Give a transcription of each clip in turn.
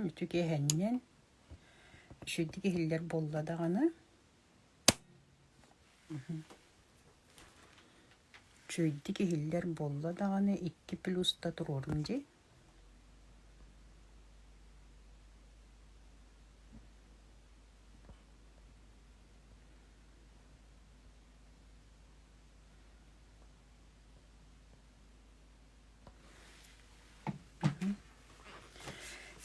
Үтүк иһэнньэн иширдик иһиллэр буолла даҕаны үчүгэйдик иһиллэр буолла даҕаны икки плюс да туруорун дии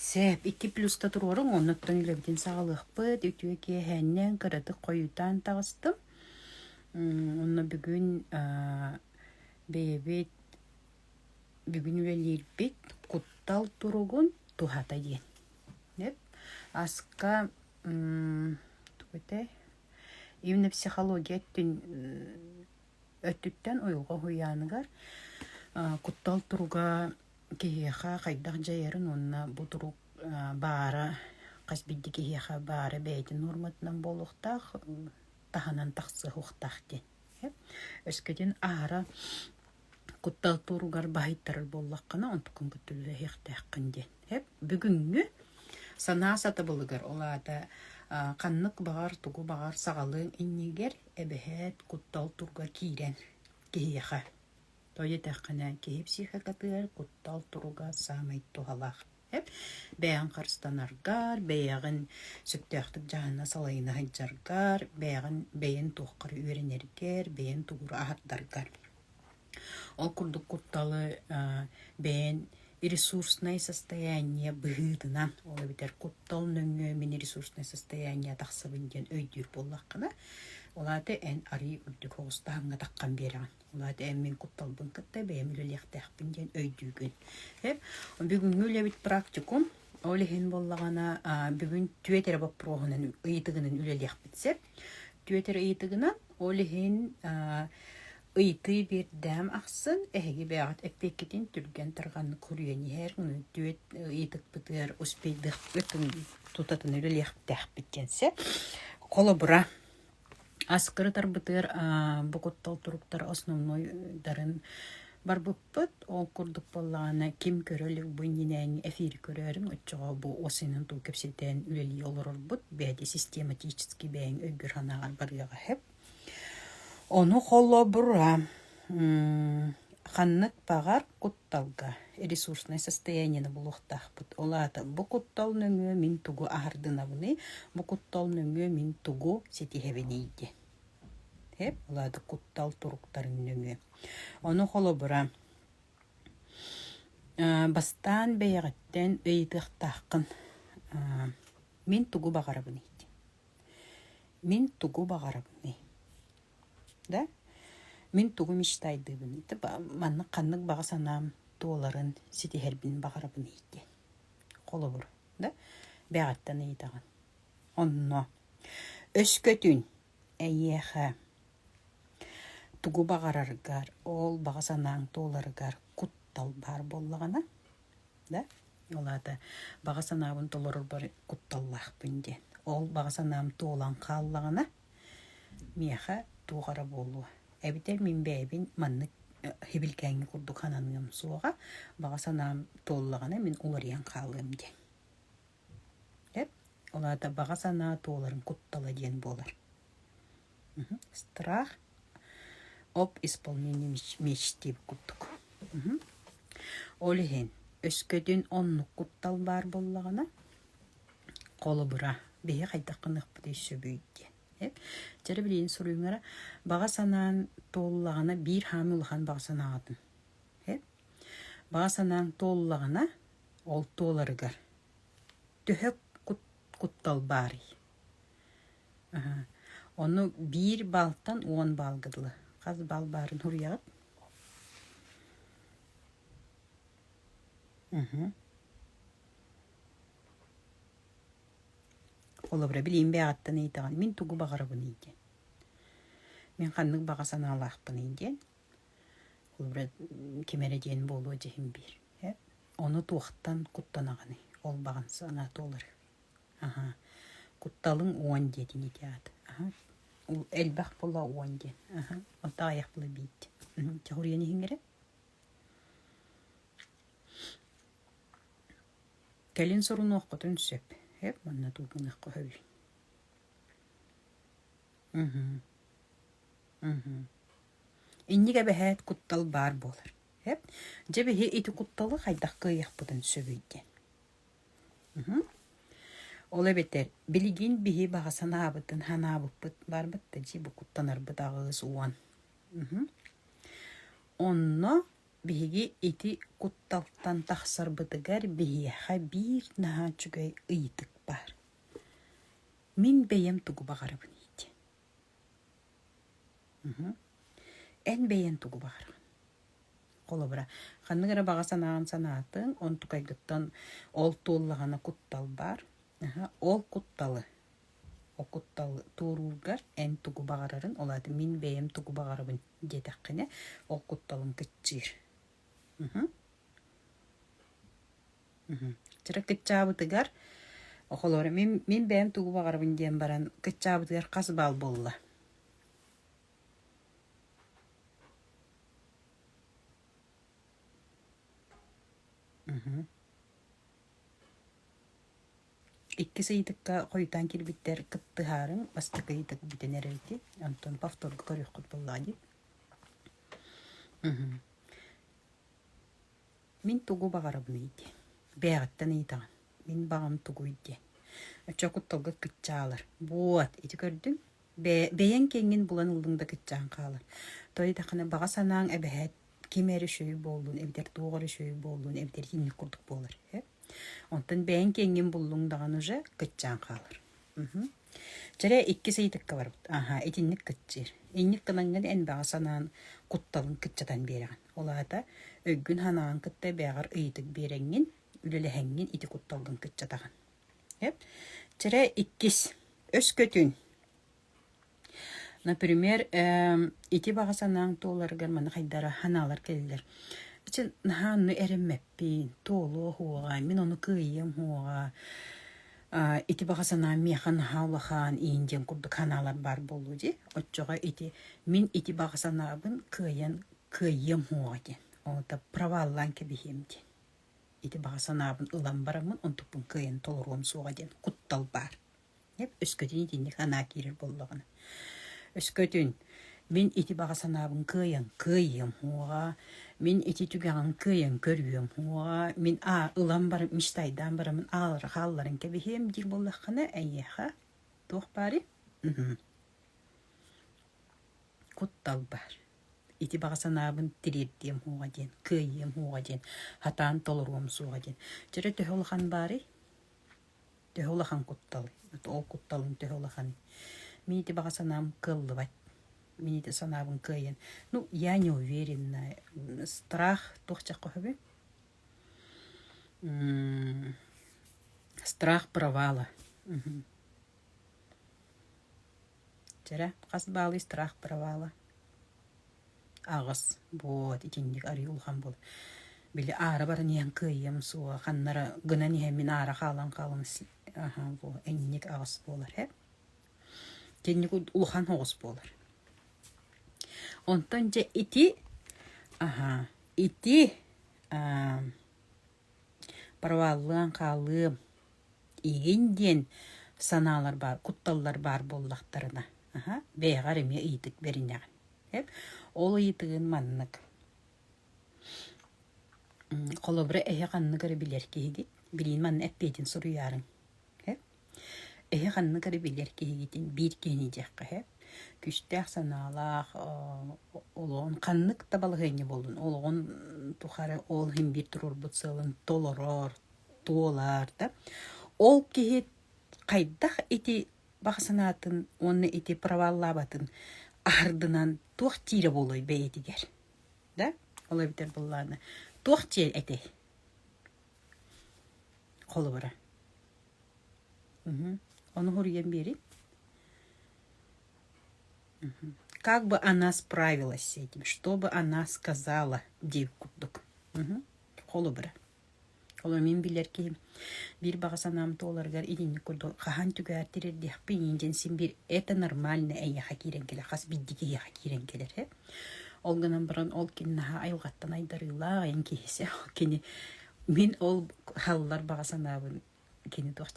Сээп, икки плюста туруоруҥ, оннуттан үлэбитин саҕалыахпыт. Үтүө киэһэннэн кыратык хойутаан таҕыстым. Онно бүгүн бэйэбит бүгүн үлэлиирбит куттал туругун туһата диэн. Деп. Аска тугу этэй? Именно психология өттүн өттүттэн уйулҕа уһуйааныгар куттал туруга киһиэхэ хайдах дьайарын уонна бу турук баара хас бирди киһиэхэ баара бэйэтин норматынан буолуохтаах таһынан тахсыһуохтаах диэн. Өскөтүн аара куттал туоругар баһыйтарар буоллаххына онтукун кытта үлэлэһиэхтээххин диэн. Эп бүгүҥҥү санаа сатабылыгар ол аата ханнык баҕар тугу баҕар саҕалыаҥ иннигэр эбэһээт куттал туруга киирэн киһиэхэ тоҕо диэтэххинэ киһи психикатыгар куттал туруга саамай туһалаах бэйэҕин харыстанаргар, бэйэҕин сөптөөхтүк дьаһанна салайына сылдьаргар, бэйэҕин бэйэн туоххар үөрэнэргэр, бэйэн тугу аһардаргар. Ол курдук кутталы бэйэн ресурснай состояние быһыытынан, ол эбэтэр куттал нөҥүө мин ресурснай состояние тахсыбын диэн өйдүүр буоллаххына, ол аата эн арыый үрдүк оҕустааһыҥҥа таххан биэрэҕин. Улаат эм мин кутталбын кытта бэйэм үлэлиэхтээхпин диэн өйдүүгүн. Эп бүгүҥҥү үлэбит практикум ол иһин буоллаҕына бүгүн түөтэрэ боппуруоһунан ыйытыгынан үлэлиэхпит сөп. Түөтэр ыйытыгынан ол иһин ыйытыы биэрдэм ахсын эһиги бэйэҕит эппиэккитин түргэн тарҕаннык хоруйан иһэр түөт ыйытыкпытыгар успейдык тутатына үлэлиэхтээхпит диэн сөп. Холобура Аскырытарбытыгар бу куттал туруктара основнойдарын барбыппыт. Ол курдук буоллаҕына, ким көрө илик бу иннинээҥҥи эфири көрөөрүҥ оччоҕо бу ол синин туу кэпсэтэн үлэлии олорорбут. Бэйэтэ систематически бэйэҥ өйгөр-санааҕар барыаҕа сөп. Ону холобура ханнык баҕар Кутталга ресурснай состояниены булуохтаахпыт. Ол аата бу куттал нөҥүө мин тугу аһардынабыный, бу куттал нөҥүө мин тугу ситиһэбиний дии. Эп, ол аата куттал туруктарын нөҥүө. Ону холобура, бастаан бэйэҕиттэн ыйытыахтааххын, мин тугу баҕарабыный? Мин тугу баҕарабыный? да мин тугу мечтайдыыбын ити маннык ханнык баҕа санаам туоларын ситиһэрбин баҕарабын диэн холобур да бэҕэттэн ыйытаҕын онно өскөтүн эйиэхэ тугу баҕараргар ол баҕа санааҥ туоларыгар куттал баар буоллаҕына да ол аата баҕа санаабын толорорбор кутталлаахпын диэн ол баҕа санаам туолан хааллаҕына Миэхэ туох эрэ буолуо, эбэтэр мин бэйэбин маннык иһибилгээҥҥэ курдук сананыам суоҕа, баҕа санаам туоллаҕына мин уларыйан хаалыам диэн. Эп, ол аата баҕа санаа туоларын куттала диэн буолар. Страх об исполнении меч диэбит курдук. Ол иһин өскөтүн оннук куттал баар буоллаҕына Холобура, биһиги хайдах гыныахпытый сөбүй диэн. Дьэ билигин суруйуҥара баҕа санаан туоллаҕына биир хаан улахан баҕа санааҕытын. Баҕа санааҥ туоллаҕына ол туоларыгар төһө куттал баарый? Ону биир балтан уон баалга дылы. Хас баал баарын суруйаҕыт? Олобура билиим бэҕэттэн ыйытаҕын, мин тугу баҕарабыный диэн. Мин ханнык баҕа санаалаахпыный диэн, олобура ким эрэ диэн буолуо дьиһин биэр. Эп ону туохтан куттанаҕыный, ол баҕан санаата уларый. Аһаа, кутталыҥ уон диэтин ити аата. Аһа, ол элбэх була уон диэн. Аһа, онтон аҕыйах була биир диэн. Дьэ, хоруйан иһиҥ эрэ. Кэлин сорунуоххутун сөп, эп манна дуу гыныахха сөбүй Мм мм Инник эбэһээт куттал баар буолар эп Дьэ биһи ити кутталы хайдах кыайыахпытын сөбүй диэн мм Ол эбэтэр билигин биһи баҕа санаабытын санаабыппыт барбыт да дьиэ бу куттанарбыт аҕыс уон мм Онно Биһиги ити кутталтан тахсарбытыгар биһиэхэ биир наһаа үчүгэй ыйытык баар. Мин бэйэм тугу баҕарабын иити? Мхм. Эн бэйэҥ тугу баҕараҕын? Холобура, ханнык эрэ баҕа санааҕын санаатыҥ, онтукайгыттан ол туоллаҕына куттал баар. Аха, ол кутталы, ол куттал туоруургар эн тугу баҕарарын, ол аата мин бэйэм тугу баҕарабын диэтэххинэ, ол кутталын кыччыыр. Вчера кыччаабытыгар, холоор, мин, мин бэйэм тугу баҕарабын диэн баран, кыччаабытыгар хас баал буолла? Угу. Иккис ыйытыкка хойутаан кэлбиттэр кыттыһаарыҥ бастакы ыйытык бүтэн эрэр ити, онтон повторга көрүөххүт буоллаҕа дии. Мм. Мин тугу баҕарабыный дии, бэйэҕиттэн ыйытаҕын. Мин баҕам тугуй диэн. Оччо кутталга кыччаалар. Вот, ити көрдүҥ? Бэйэ, бэйэҥ киэҥҥин булан ыллыҥ да кыччаан хаалар. Той даҕаны баҕа санааҥ эбэһээт ким эрэ үчүгэй буоллун эбэтэр туох эрэ үчүгэй буоллун эбэтэр итинник курдук буолар. Онтон бэйэҥ киэҥҥин буллуҥ даҕаны уже кыччаан хаалар. Чэрэ иккис ыйытыкка барбыт. Аһаа, итинник кыччыыр. Инник гынаҥҥын эн баҕа санаан кутталын кыччатан биэрэҕин. Ол аата өйгүн-санаҕын кытта бэҕэр ыйытык биэрэҥҥин, үлэлэһиҥҥин ити кутталгын кыччатаҕын. Чэрэ иккис, өскөтүн Например, эээ ити баҕа санааҥ туоларыгар маны хайдара санаалар кэллилэр: "Чэ, наһаа онну эрэммэппин, туолуо оһуоҕа, мин ону кыайыам оһуоҕа, аа ити баҕа санаам миэхэ наһаа улахан, иин диэн курдук санаалар баар буолуо дии. Оччоҕо ити мин ити баҕа санаабын кыайан кыайыам оһуоҕа диэн, оҕото проваллаан кэбиһиэм диэн. Ити баҕа санаабын ылан бараммын онтукпун кыайан толоруом суоҕа диэн куттал баар". Өскөтүн итинник санаа киирэр буоллаҕына. Өскөтүн мин ити баҕа санаабын кыайан кыайыам уоҕа, мин ити түгэҕин кыайан көрүөм уоҕа, мин аа ылан баран мечтайдаан бараммын аалара хаалларан кэбиһиэм диир буоллаххына эйиэхэ туох баарый? Куттал баар. Ити баҕа санаабын тириэрдиэм уоҕа диэн, кыайыам уоҕа диэн, сатаан толоруом суоҕа диэн. Чэ эрэ төһө улахан баарый? төһө улахан куттал, ол кутталын төһө улаханы. Мин ити баҕа санаам кыаллыбат. Мин ити санаабын кыайан. Ну, я не уверена. Страх туох чахха сөбүй? Страх провала. Чэрэ, хас баалый страх провала? Аҕыс буот итинник арыый улахан буолар. Били аара баран иһэн кыайыам суо, ханнара гынан иһэн мин аара хаалан хаалан си- аһа бу энньик аҕыс буолар ээ. Итинник улахан оҕус буолар. Онтон дьэ ити, аһа, ити, Проваллыан, хаалыам, иһин диэн санаалар баар, кутталлар баар буоллахтарына, аха, бэйэҕэр эмиэ ыйытык бэринэҕин. Эп, ол ыйытыгын маннык. Холобура, эһэ ханнык эрэ билэр киһи дии, билиин манна эппиэтин суруйаарыҥ. Эп Эһиэх ханнык эрэ билэр киһигитин биир киһини диэххэ сөп. Күүстээх санаалаах олоҕун ханнык да балаһыанньа буоллун олоҕун тухары ол иһин биир туруорбут сыалын толорор, туолар да. Ол киһи хайдах ити баҕа санаатын уонна ити праваллаабатын аһардынан туох диирэ буолуой бэйэтигэр? Да? Ол эбэтэр быллаана туох диэр этэй? холобура ону суруйан биэриҥ как бы она справилась с этим что бы она сказала диир курдук холобура олору мин билэр киһим биир баҕа санаам туоларыгар итинник курдук хаһан түгээр тирэрдиэхпин диэн син биир это нормально эйиэхэ киирэн кэлэр хас биирдии киһиэхэ киирэн кэлэр ээ Ол гынан баран ол ким наһаа айылҕаттан айдарыылаах эн киһи кини мин ол халлар баҕа санаабын кини туох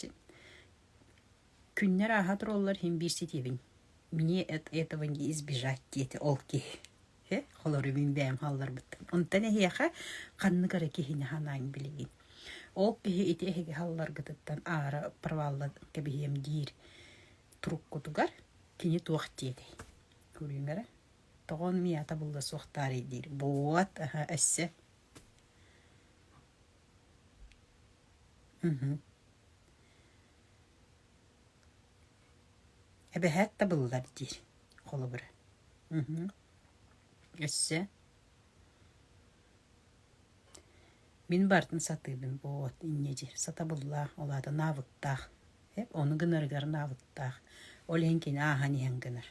күннэр ааһа тураллар иһин биир ситиэбин мне от этого не избежать диэти ол киһи э холору мин бэйэм халларбыттан онтон эһиэхэ ханнык эрэ киһини санаан билигин ол киһи ити эһиги халларгытыттан аара провалла кэбиһиэм диир туруккутугар кини туох диэтэй Кулинара, тоҕо мията булла суох таарый диир. Буот, аһа, өссө. Эбэһээт табыллар диир холобура. Өссө Мин барытын сатыыбын буолуот инньэ дии, сатабыллаах, ол аата наабыктаах, ону гынарыгар наабыктаах, ол иһин кини ааһан иһэн гынар.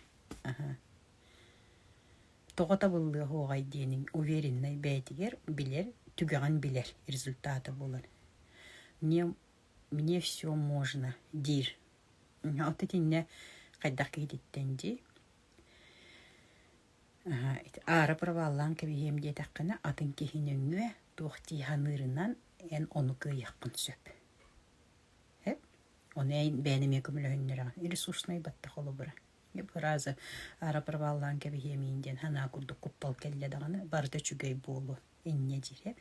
Тоҕо табыллыа-уоҕай диэниҥ, увереннай бэйэтигэр билэр, түгэҕин билэр результата буолар. Мне мне всё можно диир. От итиннэ хайдах киһититтэн дии аара проваллаан кэбиһиэм диэтэххинэ атын киһи нөҥүө туох дии саныырынан эн ону кыайыаххын сөп эп ону бэйэм эмиэ көмөлөһүннэрэҕин ресурснай баттах холобура я два раза аара проваллаан кэбиһиэмиин диэн санаа курдук куттал кэллэ даҕаны барыта үчүгэй буолуо инньэ диирэ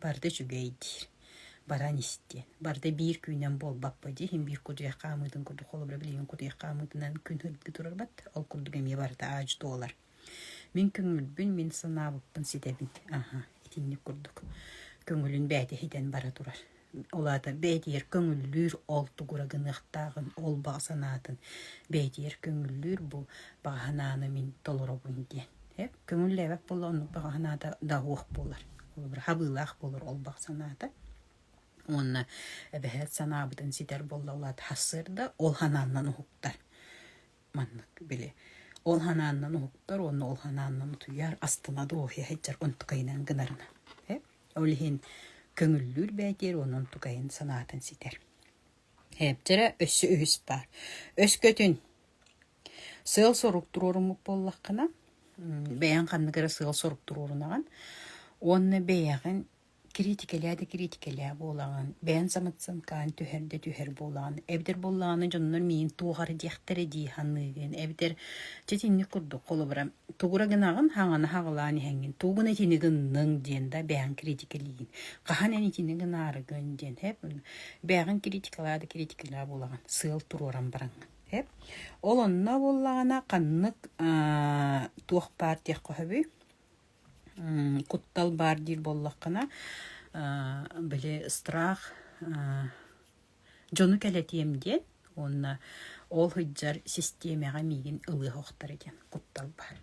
барда үчүгэйдиир баран истиэн барда биир күүнэн буолбаппа дии иһин биир кутуйах хаамыытын курдук холобура билигин кутуйах хаамыытынан күн ыргыы турарбат ол курдук эмиэ барыта аадьы туолар мин көҥүлбүн мин санаабыппын ситэбин аха итинник курдук көҥүлүн бээтэ иһитэн бара турар Ол аата бэйэтигэр көҥүллүүр ол тугура гыныахтааҕын, ол баҕа санаатын бэйэтигэр көҥүллүүр бу баҕа санааны мин толоробун диэн. Эп көҥүллээбэт буолла оннук баҕа санаата да уох буолар. Холобура хабыылаах буолар ол баҕа санаата. Уонна эбэһээт санаабытын ситэр буолла ол аата сарсыарда ол санааннан уһуктар. Маннык били ол санааннан уһуктар уонна ол санааннан утуйар астына дуоһуйа сылдьар онтукайынан гынарынан. Эп Ол иһин көҥүллүүр бээтиэр уонун тукайын санаатын ситэр. Ээптэрэ өссө үһүс баар. Өскөтүн сыал-сорук туруоруммут буоллаххына, бэйэҥ ханнык эрэ сыал-сорук туруорунаҕын уонна бэйэҕин кириитикэлээ да кириитикэлээ буолаҕын, бэйэҥ самоценкаҕын түһэр да түһэр буолаҕын, эбэтэр буоллаҕына дьоннор миигин туох эрэ диэхтэрэ дии саныыгын, эбэтэр дьэ итинник курдук холобура тугура гынаҕын хаҥаны хаҕылаан иһэҥҥин тугу гына итини гынныҥ диэн да бэйэҕин критикэлиин хаһан эн итини гынаарыгын диэн эп бэйэҕин критикалаа да критикалаа буолаҕын сыал туруоран бараҥҥын эп ол онно буоллаҕына ханнык туох баар диэххэ сөбүй куттал баар диир буоллаххына били страх дьону кэлэтиэм диэн уонна ол сылдьар систиэмэҕэ миигин ылыах охторо диэн куттал баар.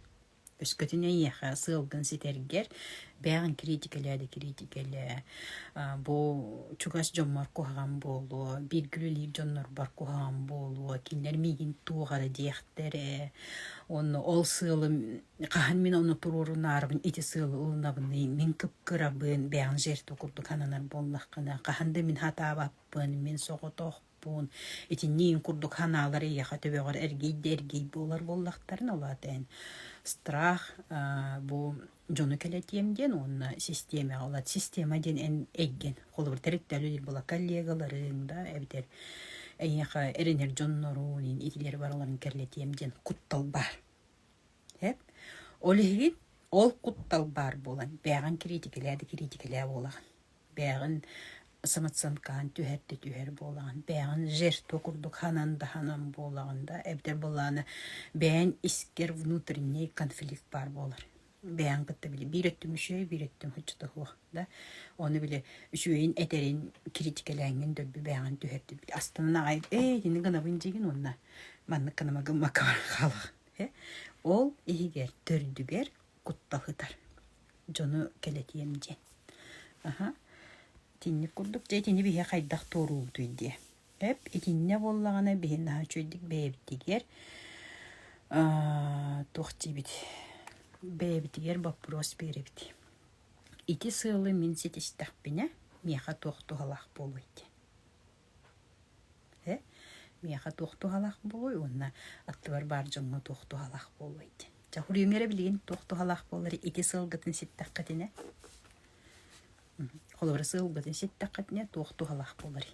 Өскөтүн эйиэхэ сыалгын ситэргэр бэйэҕин кириитикэлээ да кириитикэлээ бу чугас дьоммор куһаҕан буолуо бииргэ үлэлиир дьоннорбор куһаҕан буолуо кинилэр миигин туох эрэ диэхтэрэ уонна ол сыалым хаһан мин ону туруорунаарбын ити сыалы ылынабыный мин кыпкырабын бэйэҥ жертва курдук сананар буоллаххына хаһан да мин хатаабаппын мин соҕотохпун итинни ин курдук санаалар эйиэхэ төбөҕөр эргий да эргий буолар буоллахтарына улаата эн страх бу дьону кэлэтиэм диэн уонна систиэмэҕэ ылат система диэн эн эйгэн холобур территориялар була коллегаларыҥ да эбэтэр эйиэхэ эрэнэр дьоннорун итилер бараларын кэрлэтиэм диэн куттал баар Эп ол иһигин ол куттал баар буолан бээҕин кириитикэлээ да кириитикэлээ буолаҕын. Бээҕин самоценкаһын түһэр да түһэр буолаҕын. Бээҕин жирто курдук ханан да ханан буолаҕын да эбэтэр былаана бэйэҥ искэр внутренний конфликт баар буолар бэйэҥ кытта били биир өттүм үчүгэй, биир өттүм хаччыта суох да ону били үчүгэйин этэрин кириитикэлээҥҥин дөрби бэйэҕин түһэрдин били астынан аҕай ээ итини гынабын дьигин уонна маннык гына гыммакка баран хаалаҕын э ол иһигэр төрдүгэр кутта сытар дьону кэлэтиэм диэн аха итинник курдук дьэ итини биһиэхэ хайдах туоруубутуй диэ Эп итиннэ буоллаҕына биһи наһаа үчүгэйдик бэйэбитигэр туох диибит бэйэбитигэр боппуруос биэрэбит. Ити сыалы мин ситистэхпинэ миэхэ туох туһалаах буолуой диэн. Э миэхэ туох туһалаах буолуой уонна аттыбар баар дьоҥҥо туох туһалаах буолуой диэн. Дьэ хулиумера билигин туох туһалаах буоллар ити сыалгытын ситтэххитинэ холобура сыалгытын ситтэххитинэ туох туһалаах буоларый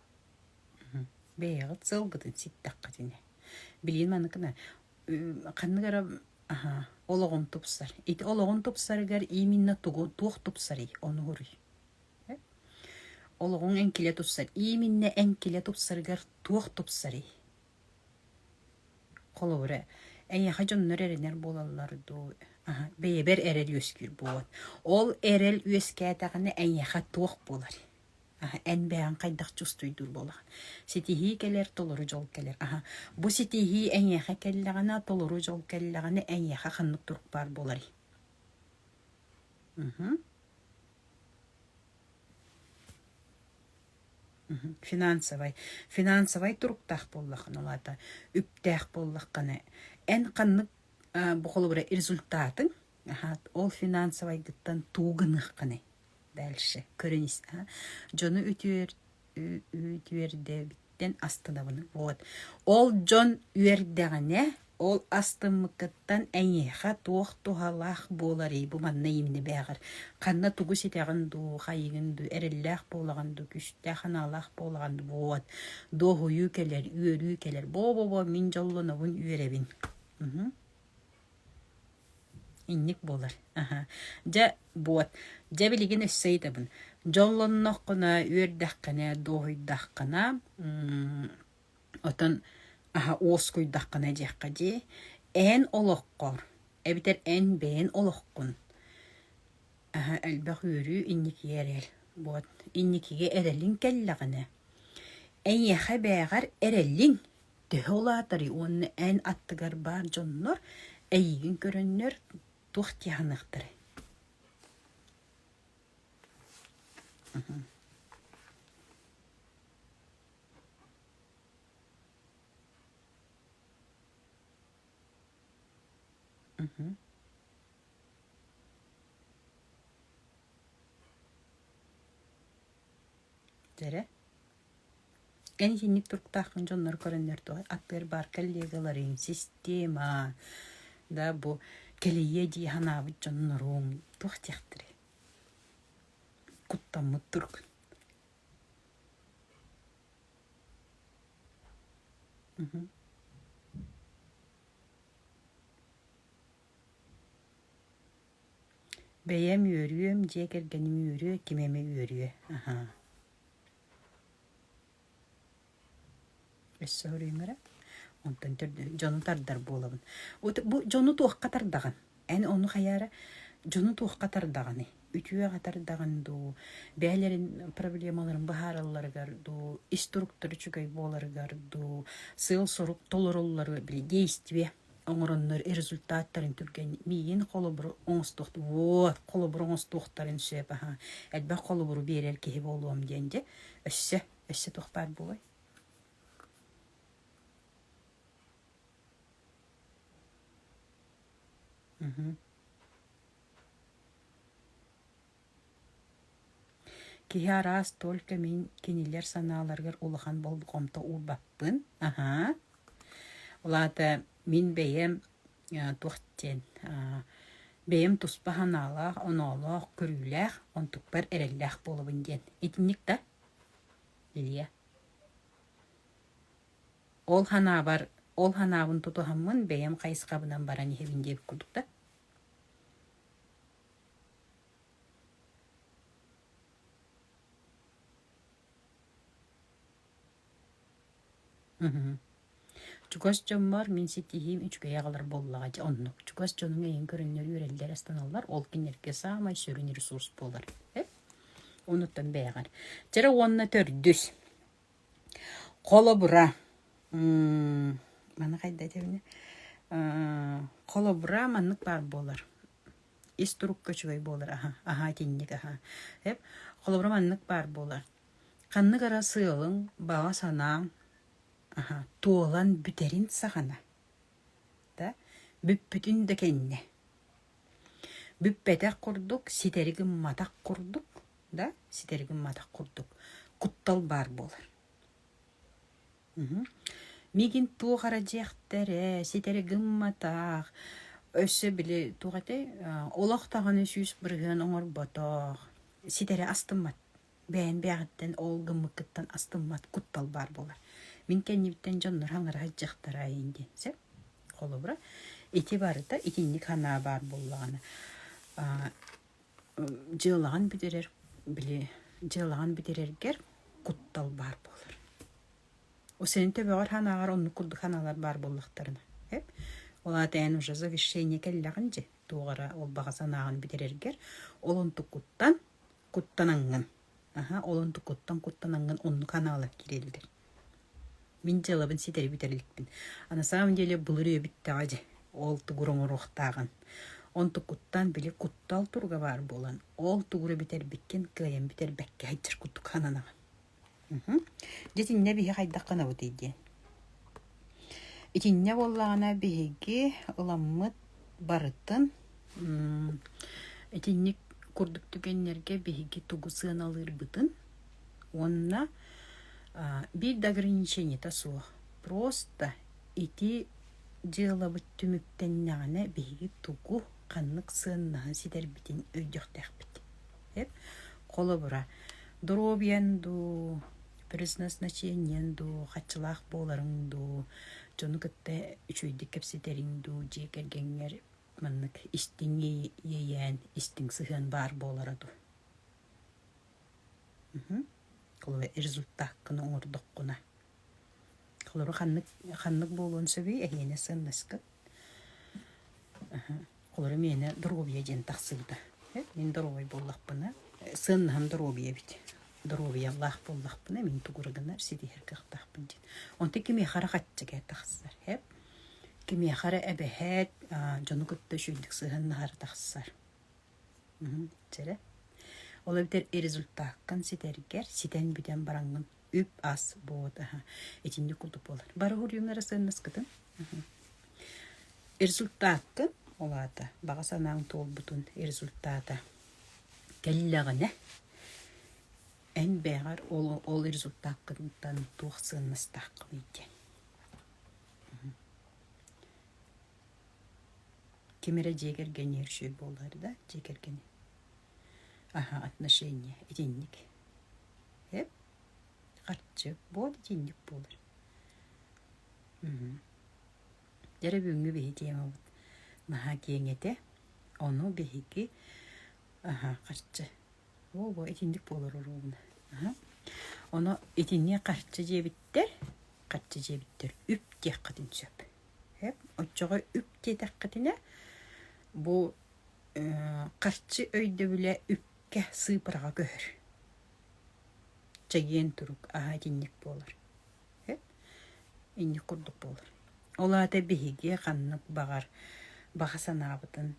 Бэйэҕит сылгытын ситтэххит ини. Билигин маныкына ханнык эрэ аһа олоҕун тупсар. Ити олоҕун тупсарыгар ииминнэ тугу туох тупсарый ону уруй? Олоҕуҥ эҥкилэ тупсар. Ииминнэ эҥкилэ тупсарыгар туох тупсарый? Холобура, эйиэхэ дьоннор эрэнэр буолаллар дуу, бэйэбэр эрэл үөскүүр буолуон. Ол эрэл үөскээтэҕинэ эйиэхэ туох буоларый? эн бэйэҥ хайдах чувствуйдуур буолаҕын ситиһии кэлэр толору дьол кэлэр аха бу ситиһии эйиэхэ кэллэҕинэ толору дьол кэллэҕинэ эйиэхэ ханнык турук баар буоларый финансовай финансовай туруктаах буоллаххына улаата үптээх буоллаххына эн ханнык бу холобура результатыҥ ол финансовайгыттан туугыныаххыный дальше көрүн дьону үтүөр үтүөрдэбиттэн астынабын вот ол дьон үөрдэҕинэ ол астыммыккыттан эйиэхэ туох туһалаах буоларый бу манна имни бээҕэр ханна тугу ситэҕин дуу хайыгын дуу эрэллээх буолаҕын дуу күстээх анаалаах буолаҕын дуу вот дуоһуйуу кэлэр үөрүү кэлэр бо бо бо мин дьоллонобун үөрэбин Инник буолар. Дьэ, буот, дьэ билигин өссө ыйытабын. Дьоллонноххуна, үөрдэххинэ, дуоһуйдаххына, оттон аһа уоскуйдаххына диэххэ дии, эн олоххор эбэтэр эн бэйэн олоххун аһа элбэх үөрүү инникигэ эрэр. Буот, инникигэ эрэлиҥ кэллэҕинэ, эйиэхэ бэйэҕэр эрэллиҥ төһө улаатарый уонна эн аттыгар баар дьоннор эйиигин көрөннөр туох дьаһаныахтарай дэрэ Эн итинник туруктааххын дьоннор көрөннөр дуо? Атыгар баар коллега Ларин, система, да бу кэлэйиэ дии санаабыт дьонноруҥ туох диэхтэрэй? Куттаммыт туругун. Мгм. Бэйэм үөрүөм, дьиэ кэргэним үөрүө, ким эмэ үөрүө. Аһаа. өссө көрүөмэрэ онтон дьону тардар буолабын бу дьону туохха тардаҕын эн ону хайа эрэ дьону туохха тардаҕыный үтүөҕэ тардаҕын дуу бэйэлэрин проблемаларын быһааралларыгар дуу ис туруктара үчүгэй буоларыгар дуу сыал сорук толороллору били действие оҥороннор результаттарын түргэн миин холобуру оҥостуохтун вот холобуру оҥостуохтарын сөп аха элбэх холобуру биэрэр киһи буолуом диэн дьэ өссө өссө туох баар буолай Киһи араас только мин кинилэр санааларыгар улахан болҕомто уурбаппын. Аһаа. Ол аата мин бэйэм туох диэн бэйэм туспа санаалаах, оноолоох, көрүүлээх, онтукпар эрэллээх буолабын диэн. Итинник да? Лия. Ол санаабар, ол санаабын тутуһаммын бэйэм хайысхабынан баран иһэбин диэбит курдук да? Мгм. Чугас дьоммор мин ситиһиим үчүгэй аҕалар буоллаҕа дьэ оннук. Чугас дьонуҥ эйиҥ көрөннөр үөрэллэр, астаналлар, ол кинилэргэ саамай сүрүн ресурс буолар. Э? Онуттан бэйэҕэр. Чэрэ уонна төрдүс. Холобура. м, Маны хайда этэбинэ? Э, Холобура маннык баар буолар. ис турукка үчүгэй буолар аһа, аһа итинник аһа. Эп, холобура маннык баар буолар. Ханнык эрэ сыалыҥ, баҕа санааҥ аһа туолан бүтэрин саҕана. Да, бүппүтүн да кэннэ. Бүппэтэх курдук, ситэри гымматах курдук, да, ситэри гымматах курдук куттал баар буолар. Миигин туох эрэ дьиэхтэр ээ, ситэри гымматах, өссө били туох этэй, олох даҕаны сүүс бырыһыан оҥорботох, ситэри астыммат, бэйэм-бэйэҕиттэн ол гыммыккыттан астыммат куттал баар буолар. Мин кэннибиттэн дьоннор аҥараһа дьахтараа ин диэн. Сөп? Холобура, ити барыта итинник санаа баар буоллаҕына дьыалаҕын бүтэрэр били дьыалаҕын бүтэрэргэр куттал баар буолар у сенин төбөҕөр санааҕар оннук курдук санаалар баар буоллахтарына эп ол аата эн уже завещение кэллэҕин дьэ туох эрэ ол баҕа санааҕын бүтэрэргэр ол онтукуттан куттанаҥҥын Аһа, ол онту куттан куттан ангын оннук ханаалар кириэллэр. Мин дьыалабын ситэри бүтэр иликпин. А на самом деле былыр үйэбиттэҕэ дьэ ол тугур оҥоруохтааҕын. Онту куттан били куттал туруга баар буолан ол тугура бүтэрбиккин кыайан бүтэрбэккэ сылдьар курдук сананаҕын. Мхм. Дьэ итиннэ биһи хайдах гынабытый диэн. Итиннэ буоллаҕына биһиги ыламмыт барытын итинник курдук түгэннэргэ биһиги тугу сыаналыырбытын уонна биир да ограниченията суох просто ити дьыалабыт түмүктэннэҕинэ биһиги тугу ханнык сыаннаһан ситэрбитин өйдüөхтээхпит холобура доруобуйан дуу Предназначениеҥ дуу, хаччылаах буоларыҥ дуу, дьону кытта үчүгэйдик кэпсэтэриҥ дуу, дьиэ кэргэҥҥэр маннык истиҥ иэйээн, истиҥ сыһыан баар буолара дуу? Холобура результаккыны оҥордоххуна. Холобура ханнык ханнык буолуон сөбүй? Эһиэнэ сыаннаска Олорум иэнэ доруобуйа диэн тахсыбыта. Мин доруобай буоллахпына, сыаннаһым доруобуйа эбит. Доруобуйалаах буоллахпына, мин тугура гынар, ситиһэр кыахтаахпын диэн. Онтон кимиэхэ харчыга тахсар, эп. Кимиэхэ эрэ эбэһээт, дьону кытта үчүгэйдик сыһыаннаһар тахсар. Дьэрэ. Ол эбэтэр результаккын ситэргэр, ситэн бүтэн бараҥҥын үп-ас буод аха итинник курдук буолар бары уруюмнара сыаннаскытын результатты олаата баҕа санааң туолбутун результата кэллэҕинэ эн бэҕэр ол ол результаткыттан туох сыаннастааххын диэн ким эрэ дьиэ кэргэниэр үчүгэй буолар да дьиэ кэргэни аха отношения итинник эп харчы буон итинник буолар дьэ бүгүҥҥү биһи тиэмабыт наһаа киэҥ этэ ону биһиги аха харчы оо бу итинник буолар оруобуна аха ону итинниэ харчы диэбиттэр харчы диэбиттэр үп диэххитин сөп эп оччоҕо үп диэтэххитинэ бу харчы өйдөбүлэ үп Кэ, сыыпараҕа көһөр. Чэгиэн турук, аһа итинник буолар. Э? Инник курдук буолар. Ол аата биһиги ханнык баҕар баҕа санаабытын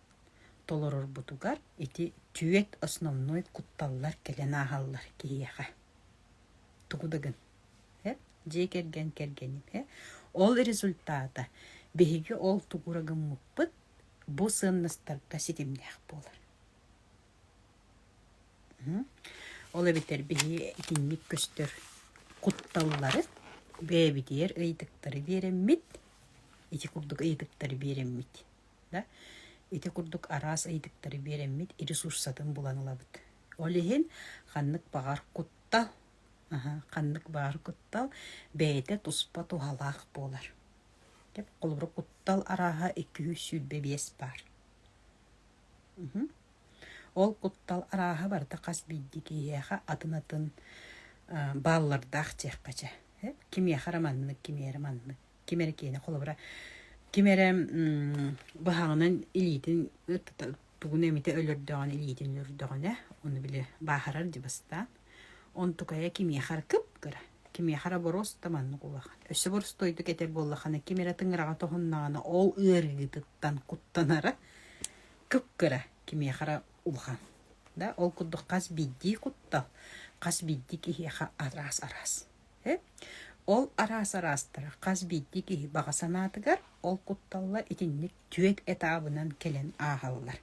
толорорбутугар ити түөт основной кутталлар кэлэн ааһаллар киһиэхэ. Тугу да гын. Э? Дьиэ кэргэн кэргэним. Э? Ол результата биһиги ол тугура гыммыппыт бу сыаннастарга ситимнээх буолар. Ол эбэтэр биһи итинник көстөр кутталлары бэйэбитигэр ыйытыктары биэрэммит, ити курдук ыйытыктары биэрэммит. Да? Ити курдук араас ыйытыктары биэрэммит ресурсатын булан ылабыт. Ол иһин ханнык баҕар куттал аха ханнык баар куттал бэйэтэ туспа туһалаах буолар. Холобура куттал арааһа икки сүүс сүүрбэ биэс баар. Ол куттал арааһа барыта хас биирдии киһиэхэ атын-атын бааллардаах диэххэ чэ. Кимиэхэ эрэ маннык, кимиэхэ эрэ маннык. Ким эрэ киэнэ, холобура, ким эрэ быһаҕынан илиитин тугун эмитэ өлөрдөҕүнэ, илиитин өлөрдөҕүнэ, ону били бааһырар дьа бастаан. Онтукая кимиэхэр кып-кыра, кимиэхэр оборос да маннык улахан. Өссө боростуойдук этэр буоллаххына, ким эрэ тыҥыраҕа тоһуннаҕына, ол ыарыытыттан куттанара кып-кыра кимиэхэрэ улахан. Да ол курдук хас биирдии куттал, хас биирдии киһиэхэ араас-араас. Э? Ол араас-араастара хас биирдии киһи баҕа санаатыгар ол кутталлар итинник түөрт этабынан кэлэн ааһаллар.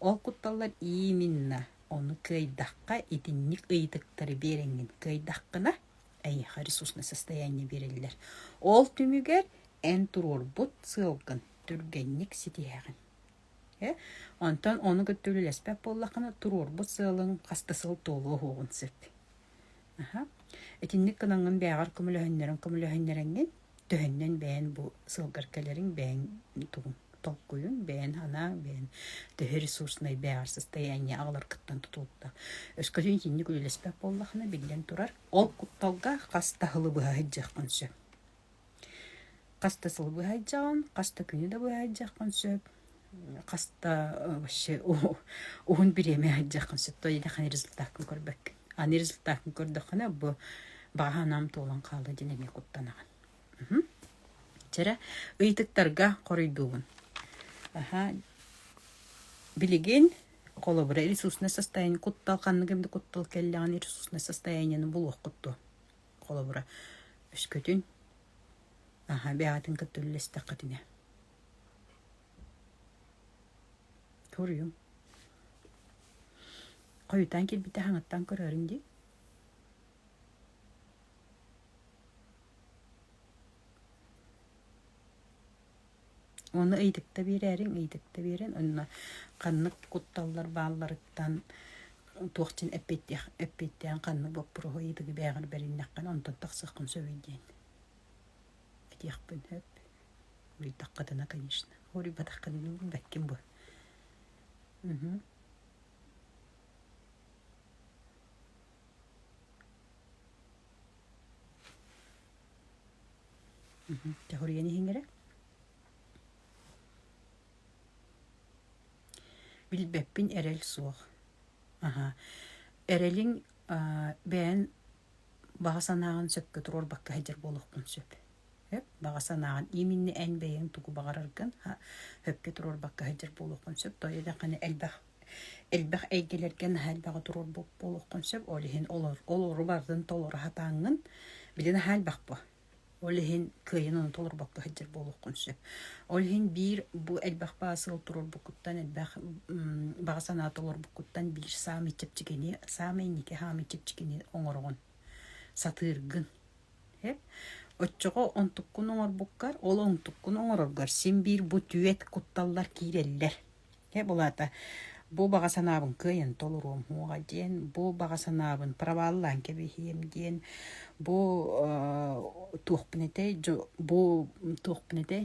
Ол кутталлар ииминна Ону кыайдахха, итинник ыйытыктары биэрэҥҥин кыайдаххына, эйиэхэ ресурсное состояние биэрэллэр. Ол түмүгэр эн туруорбут сыалгын түргэнник ситиһэҕин. Э? Онтон ону кытта үлэлэспэт буоллаххына, туруорбут сыалың хас да сыл туолуо уһуоҕун сөп. Аха. Итинник гынаҥҥын бээҕэр көмөлөһүннэрэн көмөлөһүннэрэҥҥин, төһөннөн бэйэн бу сылгар кэлэриҥ бэйэҥ тугуҥ толкуйуҥ бэйэн санааҥ бэйэн төһө ресурснай бэҕэһэрсэстэй эньэ аҕалар кыттан тутулта өскөтүн итинник үлэлэспэт буоллахына биллэн турар ол кутталга хас да сылы быһа сылдьыаххын сөп хас да сылы быһа сылдьаҕын хас да күнү да быһа сылдьыаххын сөп хаста вообще уһун бириэмэ иһэрдьэххин сөптөөх илиэхин результаккын көрбөккүн аны результаккын көрдөххүнэ бу бааһынаам туолан хаалла диэн эмиэ куттанаҕын чэрэ ыйытыктарга хоруйдуубун аха билигин холобура ресурсное состояние куттал ханныгым да куттал кэллэҕин ресурсное состояниены булуоххут дуо холобура өскөтүн аха бэҕэтин кытта үллэстэххитинэ Суруйуҥ. Хойутаан кэлбитэ хаҥаттан көрөөрүҥ дии. Ону ыйытыкта биэрээриҥ, ыйытыкта биэрэн, онно ханнык кутталлар баалларыттан туох дьин эппиэттээх эппиэттээн ханнык боппуруоһу ыйытыгы бээҕэр бэриннэххин, онтон тахсыаххын сөбүй диэн. этиэхпин сөп билтэххитинэ конечно уруйбатаххытына билбэккин бу угу Тяхурияни хингере? Билбеппин эрэл суох. Аха. Эрэлиҥ бэйэн баҕа санааҕын сөпкө туруорбакка сылдьар буолуохпун сөп. Сөп баҕа санааҕын ииминни эн бэйэҥ тугу баҕараргын сөпкө туруорбакка сылдьар буолуохпун сөп тойо даҕаны элбэх элбэх эйгэлэргэ наһаа элбэҕи туруорбут буолуоххун сөп ол иһин олору барытын толору сатааҥҥын били наһаа элбэх буо Ол иһин кыайан ону толорбокко сылдьар буолуоххун сөп. Ол иһин биир бу элбэх баҕа сыал турорбуккуттан, элбэх баҕа санаа толорбуккуттан биир саамай чэпчэкини, саамай инники саамай чэпчэкини оҥороҕун, сатыыргын. Оччоҕо онтуккун оҥорбуккар, ол онтуккун оҥороргор син биир бу түөт кутталлар киирэллэр. Э булаата бу баҕа санаабын кыайан толоруом уоҕа диэн, бу баҕа санаабын проваллаан кэбиһиэм диэн, бу э, туохпун этэй, бу туохпун этэй,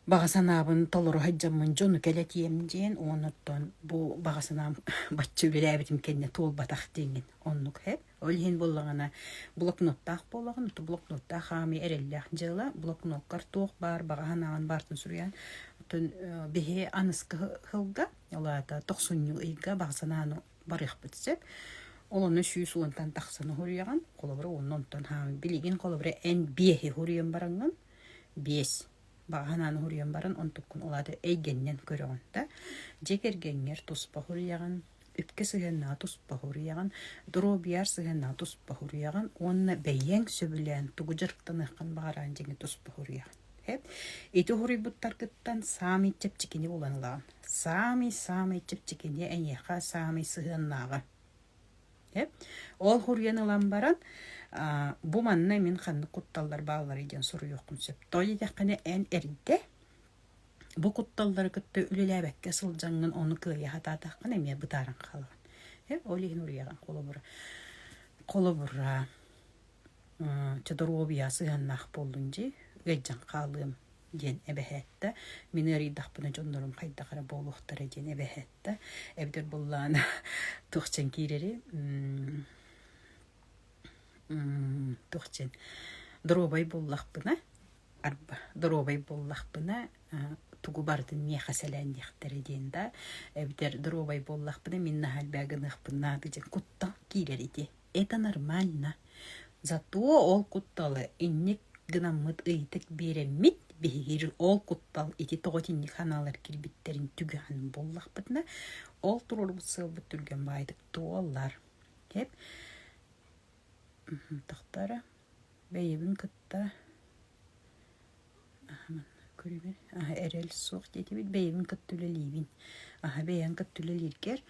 баҕа санаабын толору сылдьаммын дьону кэлэтиэм диэн уонуттан бу баҕа санаам бачча үбүлээбитим кэннэ туолбатах диэҥҥин оннук ээ Ол иһин буоллаҕына блокноттаах буолаҕын, то блокноттаах хаамыы эрэллээх дьыала. Блокноккар туох баар баҕаһын аҕын баартын суруйан, отон биһи аныска хылга, ол аата тохсунньу ыйга бахсанааны барыахпыт сөп. Олону сүүс уонтан тахсан уһуруйаҕын, холобура уонна онтон хаамыы. Билигин холобура эн биэһи уһуруйан бараҥҥын, биэс баҕаһынаан уһуруйан баран, онтуккун ол аата эйгэннэн көрөҕүн да. Дьэ кэргэҥҥэр туспа уһуруйаҕын, икки сыһыаннаҕа туспа уһуруйаҕын, доруобуйар сыһыаннаҕа туспа уһуруйаҕын уонна бэйиэҥ сөбүлээн тугу дьарыктаныаххын баҕаран дьиҥи туспа уһуруйаҕын. Эп ити уһуруйбуттаргыттан саамай чэпчэкини булан ылаҕын. Саамай саамай чэпчэкини эйиэхэ саамай сыһыаннааҕа. Эп ол уһуруйан ылан баран бу манна мин ханнык кутталлар баалларый диэн суруйуоххун сөп. Тоҕо диэтэххинэ эн эрдэ бу кутталлары кытта үлэлээбэккэ сылдьаҥҥын ону кыайа сатаатаххына эмиэ бытааран хаалаҕын ол иһин уруйаҕын холобура холобура чодоруобуйа сыһыаннаах буоллун дии ыйдьан хаалыам диэн эбэһэттэ мин ыарыйдахпына дьоннорум хайдах эрэ буолуохтара диэн эбэһэттэ эбэтэр буллаан тухчан киирэри тухчан доруобай буллахпына доруобай буоллахпына тугу барытын миэхэ сэлээн диэхтэрэ диэн да эбэтэр доруобай буоллахпына мин наһаа элбэҕи гыныахпын наада диэн куттал киирэр ити это нормально зато ол кутталы инник гынаммыт ыйытык биэрэммит биһиги ол куттал ити тоҕо итинник санаалар кирбиттэрин түгэҕин буоллахпытына ол туруорбут сыалбыт түргэн баайдык туоллар деп тохторо Бэйэбин кытта көрүбүн эрэл суох диэтибит бэйэбин кытта үлэлиибин аһа бэйэҥ кытта үлэлииргэр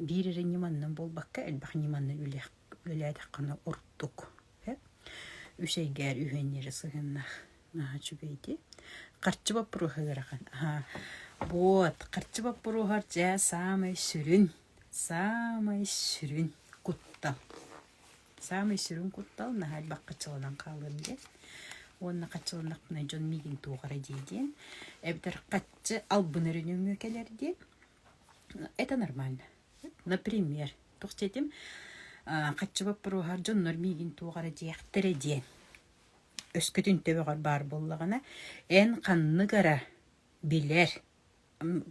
биир эрэ ньыманан буолбакка элбэх ньыманы үлэлээтэххинэ ордук үс эйгээр үһүөннүөрэ сыһыаннаах үчүгэй дии харчы боппуруоһа ыарахан вот харчы боппуруоһар дьэ саамай сүрүн саамай сүрүн куттал Саамай сүрүн куттал наһаайбах хаччаланан хаалыам диэн уонна хаччаланнахпына дьон миигин туох эрэ дии диэн эбэтэр хаччы албынар нөҥүө кэлэр диэн это нормально. Например, туох диэтим хаччы боппуруоһар дьоннор миигин туох эрэ диэхтэрэ диэн өскөтүн төбөҕөр баар буоллаҕына эн ханнык эрэ билэр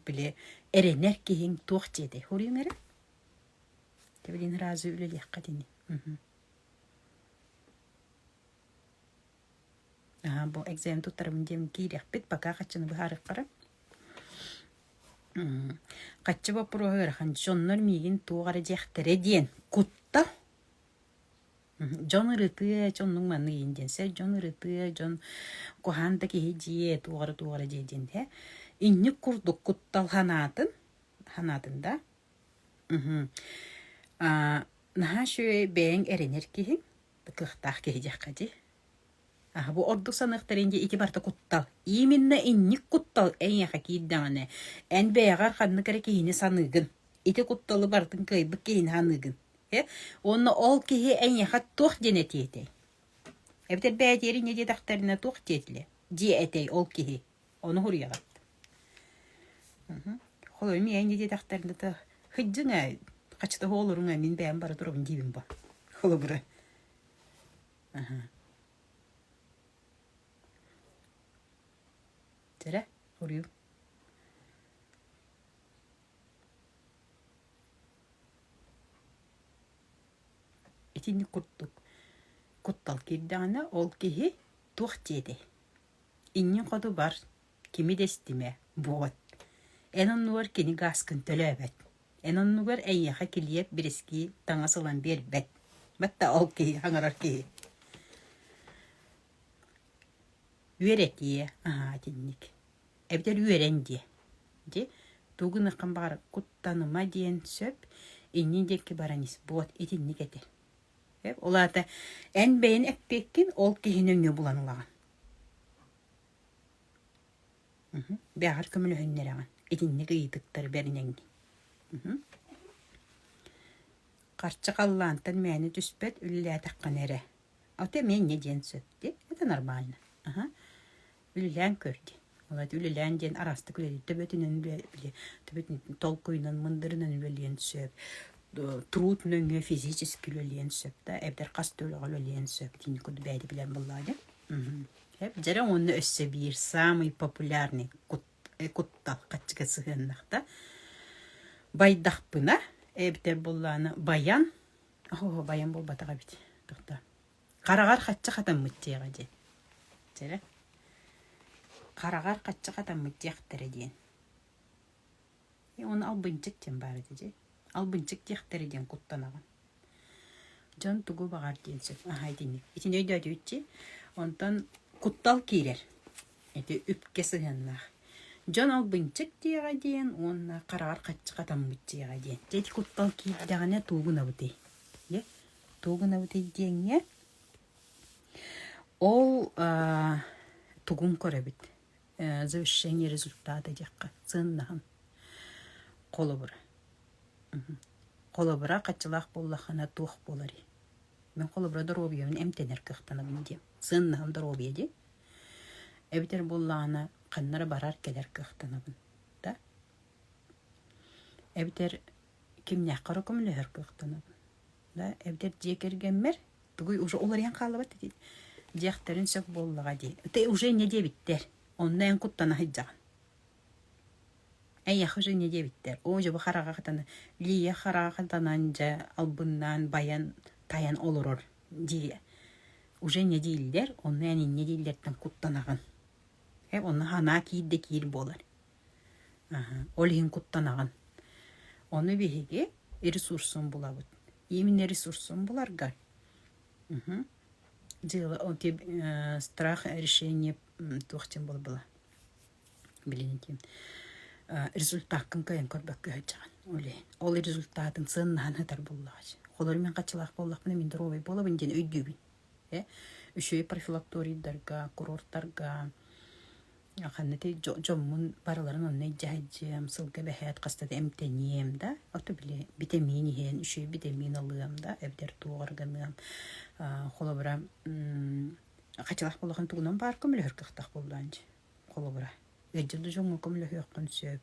били эрэнэр киһиҥ туох диэтэй хоруйуҥ эрэ Кэбиниин ыраазы үлэлиэххит ини Аһа бу экзамен туттарабын диэм киириэхпит пока хаччыны быһаарыаххара Хаччы боппуруоһу ыарахан дьоннор миигин туох эрэ диэхтэрэ диэн кутта дьон ырытыа дьоннуҥ манна иин диэн сэр дьон ырытыа дьон куһаан да киһи дьиэ туох эрэ туох эрэ дьиэ диэн иһэ инник курдук куттал санаатын санаатын да Наһаа үчүгэй бэйэҥ эрэнэр киһиҥ, кыахтаах киһи диэххэ дии. Аһы бу ордук саныахтарын дии ити барыта куттал. Именно инник куттал эйиэхэ киирдэҕинэ эн бэйэҕэр ханнык эрэ киһини саныыгын. Ити кутталы барытын кыайбыт киһини саныыгын. Э? Уонна ол киһи эйиэхэ туох диэн этиэ этэй? Эбэтэр бэйэтигэр инньэ диэтэхтэринэ туох диэтилэ? Дии этэй ол киһи. Ону хуриаҕыт. Холойум иэйни диэтэхтэринэ то хыддьын ээ хачыта оһолоруҥ а мин бэйэм бара турабын диибин бо. Холобура. Тирэ хуриу. Итинник курдук куттал киирдэҕинэ ол киһи туох диэтэй? Иннин хотубар кими да истимэ буолуот эн оннугар кини гааскын төлөөбөт эн оннугар эйиэхэ килиэп бирискии таҥас ылан биэрбэт батта ол киһи хаҥырар киһи үөрэтиэ аһаа итинник эбэтэр үөрэн диэ дьэ тугу гыныаххын баҕарар куттаныма диэн сөп иннин диэки баран ис буолуот итинник этэ Ол аата эн бэйэн эппиэккин, ол киһи нөҥүө булан ылаҕын. Бэҕэр көмөлөһүннэрэҕин, итинник ыйытыктар бэриниэҥ дии. Харчы халлаантан мээнэ түспэт, үлэлээтэххинэ эрэ. А у тебя мнение диэн сөп дии. Это нормально. Үлэлээн көр диэн. Влади үлэлээн диэн араастык үлэлиир төбөтүнэн үлэ төбөтүнэн толкуйунан мындырынан үлэлиэн сөп. Труд нөҥүө физически үлэлиэн сөп да эбэтэр хас да үлэҕэ үлэлиэн сөп диэн курдук бэйэди билэн буллаа дьэ. Дьэрэ уонна өссө биир саамай популярный куттал хаччыга сыһыаннахта байдахпына эбэтэр буллаана баян оһо баян буолбатах эбит тохто Хараҕар хаччы хатаммыт диэҕэ диэн. Чэрэ хараҕар хаччы хатаммыт диэхтэрэ диэн. Уону албынчык диэн баар этэ дьэ. Албынчык диэхтэрэ диэн куттанаҕын. Дьон тугу баҕар диэн сөп. Аһа итинник. Итини өйдөөтүччи онтон куттал киирэр. Ити үпкэ сыһыаннаах. Дьон албынчык диэҕэ диэн уонна хараҕар хаччы хатаммыт диэҕэ диэн. Дьэ ити куттал киирдэҕинэ тугунабытый? Дьэ тугу гынабытый диэҥҥэ ол тугун көрөбүт завещание результата диэххэ сыаннаһын холобура холобура хаччылаах буоллаххына туох буоларый мен холобура доруобуйабын эмтэнэр кыахтанабын диэм сыаннаһым доруобуйа дии эбэтэр буоллаҕына ханнара барар кэлэр кыахтанабын да эбэтэр кимнээххэ эрэ көмөлөһөр кыахтанабын. Да эбдэр дьиэ кэргэммэр тугуй уже уларыйан хааллыбат ити дьиэхтэрин сөп буоллаҕа дии. Ты уже не диэбиттэр. Онно эн куттана сылдьаҕын. Эйэх уже не диэбиттэр. Оо дьэ бу хараҕа хатана Лия хараҕа хатанан дьэ албыннаан байан тайан олорор дии уже не дииллэр, онно эн инньэ дииллэртэн куттанаҕын. Э онно санаа киир да киир буолар. Ол иһин куттанаҕын. Ону биһиги ресурсун булабыт. Именно ресурсун буларга дьыала страх решение туох диэн буолбула билигин диэн результаккын кыайан көрбөккө сылдьаҕын ол иһин. Ол результатын сыаннаһан сытар буоллаҕа дии. Холобур мин хаччылаах буоллахпына мин доруобай буолабын диэн өйдүүбүн. Үчүгэй профилакторийдарга, курортарга ханна этэй дьоммун барыларын онно илдьэһэйдьиэм, сылга бэһээт хаста да эмтэниэм да, ото били битэмиин иһэн үчүгэй битэмиин ылыам да, эбэтэр туоҕар гыныам. Холобура хачалах болоһун тугунан баар көмөлөһөр кыахтаах буоллаҕын дии. Холобура ыалдьар да дьоҥҥо көмөлөһүөххүн сөп,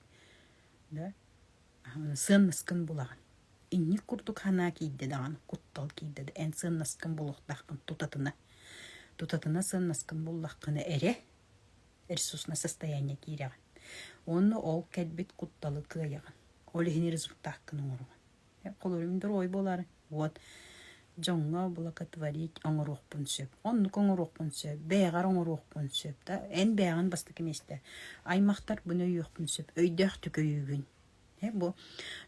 да. сыаннаскын булаҕын инник курдук санаа киирдэ даҕаны куттал киирдэ да эн сыаннаскын булуохтааххын тутатына тутатына сыаннаскын буллаххына эрэ ресурсное состояние киирэҕин уонна ол кэлбит кутталы кыайаҕын ол иһин результаккын оҥоруҕун холуобунньук дорогой буолаары уот дьоҥҥо блокотворить оҥоруохпун сөп. Оннук оҥоруохпун сөп. Бэйэҕэр оҥоруохпун сөп. Да эн бэйэҕин бастакы миэстэ. Аймахтар bunu өйүөхпүн сөп. Өйдөөхтүк өйүүгүн. Э бу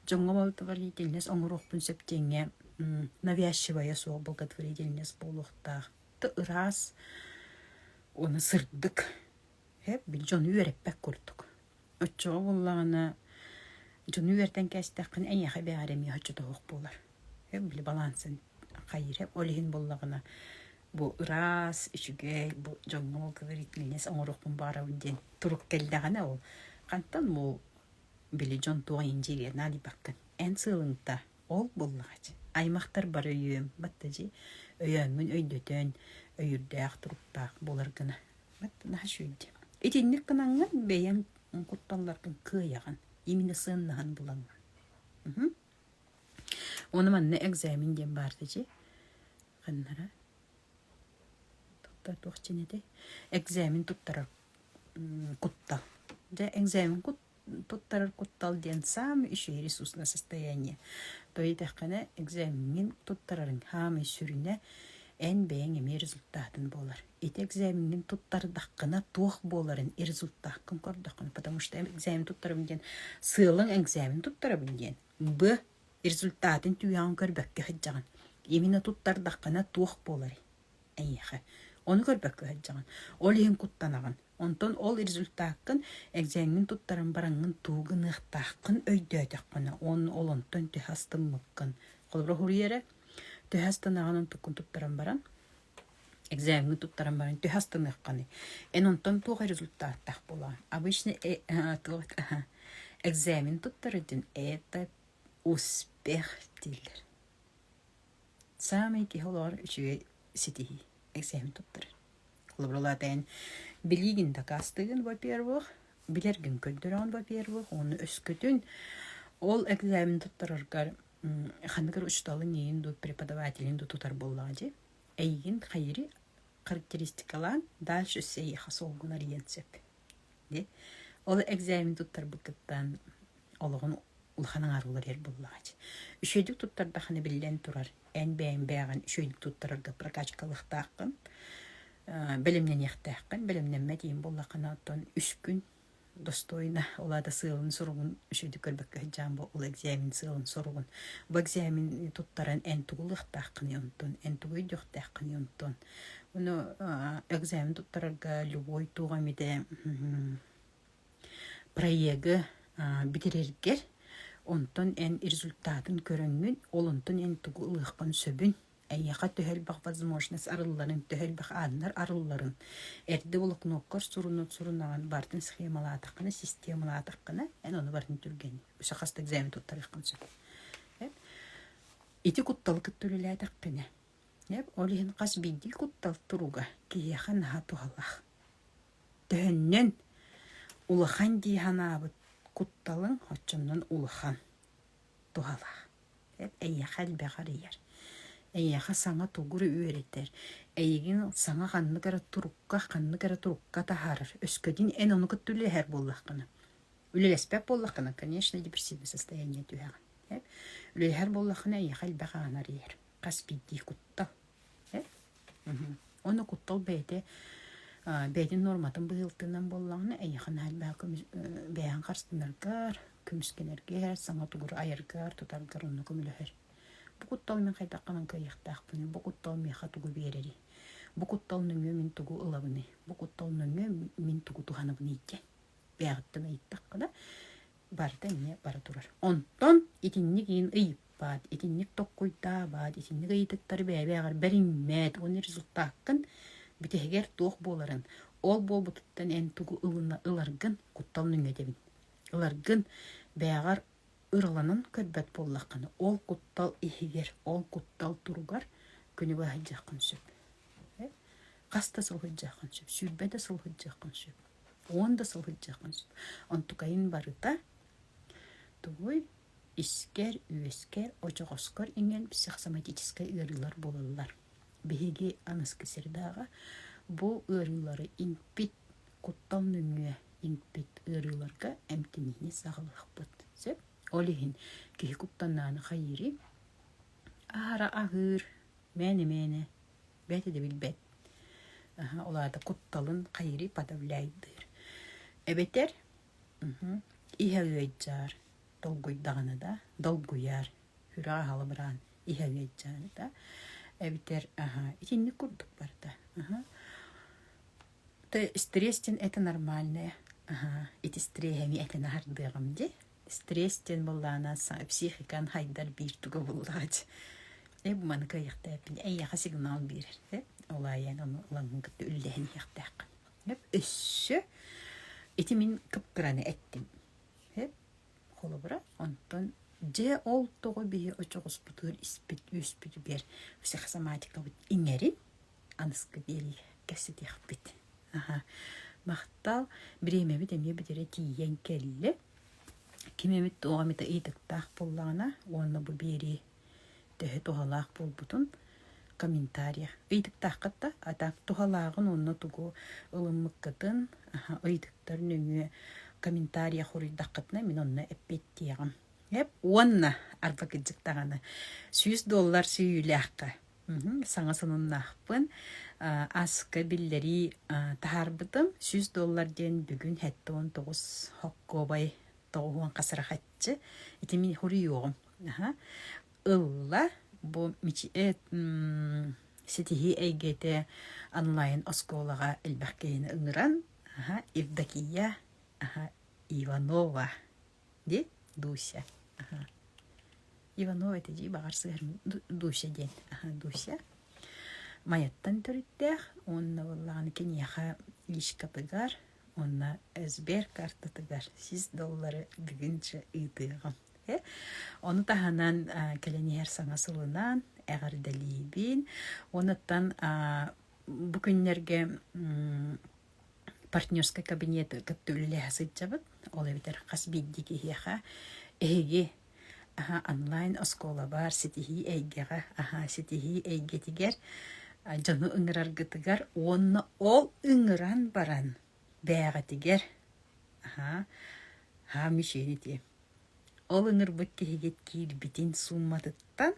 дьоҥҥо благотворительность оҥоруохпун сөп диэҥҥэ навязчивая суох благотворительность буолуохтаах. Ыраас уонна сырдык Эппит дьон үөрэппэт курдук. Оччоҕо буоллаҕына дьону үөрэтэн кээстэххинэ эйиэхэ эбээри эмиэ оччотооҕу буолар. Эп били балансын хайыыра ол иһин буоллаҕына бу ыраас, үчүгэй бу дьоҥҥо говорительность оҥоруохпун баарабын диэн турук кэллэҕинэ ол хантан бу били дьон туох индириэ наадыйбаккын эн сыалыҥ та Ол буоллаҕач, аймахтар бары үөм-бат да дьи, өйөөммүн өйдөтөн, өйүрдээх-туруктаах буолар гына бат наһаа үчүгэй. Итинник гынаҥҥын бэйэҥ кутталларгын кыайаҕын, имине сыаннаһан булаҥҥын. Мм. Ону манна экзамен диэн баар да дьи, ханнара туттар туох дьин этэй? Экзамен туттарар м куттал. Дьэ экзамен кут туттарар куттал диэн саамай үчүһэ ресурсное состояние. То итэххэнэ экзамҥин туттарарыҥ саамай сүрүнэ эн бэйэҥ эмиэ результатын буолар. Ити экзамҥин туттардаххына туох буоларын и результаккын көрдөххүнэ потому что экзамен туттарабын диэн сыалаҥ экзамен туттарабын диэн б результатын түһэҕин көрбөккө сылдьаҕын именно туттардаххына туох буоларый эйиэхэ ону көрбөккө сылдьаҕын ол иһин куттанаҕын онтон ол результаккын экзээҥҥин туттаран бараҥҥын туу гыныахтааххын өйдөөтөххүнэ уонна ол онтон төһө астыммыккын холобура суруйа эрэ төһө астанаҕын онтуккун туттаран баран экзээҥҥин туттаран баран төһө астаныаххыный эн онтон туох результаттаах буолаҕын обычно э, экзамен туттар этин это успех дииллэр Саамай киһи олоҕор үчүгэй ситиһии. Эксээмэн туттарыы. Холобуралаатаҕын билиигин дакаастыыгын, во-первых, билэргин көрдөрөҕүн, во-первых, уонна өскөтүн ол экзамены туттараргар ханныгар учууталын иэйин дуу, преподавателин дуу тутар буоллаҕа дии. Эйигин хайыри характеристикалаан дальше сиэйиэхэ солгунар иһиэн сөп. Ол экзамен туттарбытыттан олоҕун улахан аҥааругар эр буоллаҕа Үчүгэйдик туттардаххына биллэн турар эн бэйэҥ бэйэҕин үчүгэйдик туттарарга прокачка ылыахтааххын, бэлэмнэниэхтээххин. Бэлэмнэммэтиҥ буоллаххына оттон үс күн достойно ол аата сыалын-соругун үчүгэйдик көрбөккө сылдьаан бу ол экзамен сыалын-соругун. Бу экзамены туттаран эн тугу ылыахтааххыный онтон, эн тугу өйдүөхтээххиний онтон? Ну, экзамен туттарарга любой туох эмите проегы бүтэрэргэр онтон эн результатын көрөҥҥүн, ол онтон эн тугу ылыаххын сөбүн, эйиэхэ төһөлбөх возможность арылларын, төһөлбөх ааннар арылларын, эрдэ волокноккор сурунут сурунаҕын, баартын схемалаатаххына, системалаатаххына, эн ону барытын түргэнин. Өссө хас да экзамен туттарыаххын сөп. Ити кутталы кытта үлэлээтэххинэ Ол иһин хас биирдии куттал туруга киһиэхэ наһаа туһалаах. Төһөннөн улахан дии санаабыт кутталыҥ оччонон улахан, туһалаах. Эйиэхэ элбэҕи арыйар, эйиэхэ саҥа тугу эрэ үөрэтэр, эйигин саҥа ханнык эрэ турукка, ханнык эрэ турукка таһаарар, өскөтүн эн ону кытта үлэлэһэр буоллаххына, үлэлэспэт буоллаххына, конечно, депрессивнай состояние түһэҕин. Үлэлэһэр буоллаххына эйиэхэ элбэҕи аҕынар иһэр. хас биирдии куттал. Уонна куттал бэйэтэ бэйэтин нуорматын быһыылтынан буоллаҕына эйиэхэ наһаа бэйэҕин харыстанаргар, көмүскэнэргэр, саҥа тугу айаргар, тутаргар онно көмөлөһөр. Бу куттал мин хайдаххынан кыайыахтаахпыный? Бу куттал миэхэ тугу биэрэрий? Бу куттал нөҥүө мин тугу ылабыный? Бу куттал нөҥүө мин тугу туһанабыный диэн бэйэҕиттэн ыйыттахха да барыта эмиэ бара турар. Онтон итинник иин ыйыппаат, итинник токкуйдаабаат, итинник ыйытыктары бэйэ-бэйэҕэр бэриммэт, оны результаккын бүтэһигэр туох буоларын, ол буолбутуттан эн тугу ылына ыларгын куттал нүҥэтэбин. Ыларгын бэйэҕэр ырыланан көрбөт буоллаххына, ол куттал иһигэр, ол куттал туругар күнү быһа сылдьыаххын сөп. Э? Хаста сылдьыаххын сөп, сүүрбэ да сыл сылдьыаххын сөп. уон да сыл сылдьаҕын онтукайын барыта тугуй искэр үөскэр очоҕоскор иҥэн психосоматическай ыарыылар буолаллар биһиги аныгы сырдааҕа бу ыарыылары иҥпит куттал нөҥүө иҥпит ыарыыларга эмтиниини саҕалыахпыт сөп ол иһин киһи куттаннааны хайыырый аһара аһыыр мээнэ мээнэ бэйэтэ да билбэт улаата кутталын хайырый подавляйдыыр эбэтэр иһэ ыайдьаар долгуйдаҕына да долгуйаар сүрэҕэ халыбыраан иһэ ыайдьааны да эбэтэр аха итинник курдук барда аха то стресс дин это нормальное аха ити стресс эми этэн аһардыаҕым дии стресс диэн буоллаана психиканы хайдар биир туга буллаачы эб маны кыйыхтааппин эйиэхэ сигнал биэрэр эп ол айаан ону ылаҥҥын кытта үллэһэн иһиэхтээх эп өссө ити мин кыпкыраны эттим эп холобура онтон дьэ ол тоҕо биһи очоҕоспутур испит үөспүтүгэр сахсоматикабыт иҥэрин аныскы диэри кэпсэтиэхпит. Аха. Махтал. Бириэмэбит эмиэ бүтэрэ тиийэн кэллэ. Ким эмит тоҕо эмит ыйытыктаах буоллаҕына уонна бу биэрии төһө туһалаах буолбутун комментарий ыйытыктааххыт а так туһалааҕын уонна тугу ылыммыккытын ыйытыктар нөҥүө комментарий хоруйдаххытына мин онно эппиэттиэҕим эп уонна арба кырдьык даҕаны сүүс доллар сүүйүүлээххэ саҥа сонуннаахпын аска биллэрии таһаарбытым сүүс доллар диэн бүгүн сэттэ уон тоҕус хоккуобай тоҕуһуон хасырахаччы ити мин хуруйуоҕум аха ылла бу ситиһии эйгэтэ онлайн оскуолаҕа элбэх киһини ыҥыран аха Евдокия аха Иванова Де? Дуся. Ага. Иванова этидии баҕар сыһарым Дуся диэн. Ага, Дуся. Майаттан төрүттээх уонна буоллаҕына киниэхэ лишкатыгар уонна Сбер картатыгар сис доллары бүгүнчэ ыытыаҕым. Ону таһынан кэлэн иһэр саҥа сылынан эҕэрдэлиибин. Онуттан бу күннэргэ партнерскай кабинеты кытта үлэлэһэ сылдьабыт. Ол эбэтэр хас биирдии киһиэхэ эһиги аһа онлайн оскуолабар ситиһии эйгэҕэ аһа ситиһии эйгэтигэр дьону ыҥыраргытыгар уонна ол ыҥыран баран бээҕитигэр аһаа аһаа мишенити ол ыҥырбыт киһигит киирбитин суумматыттан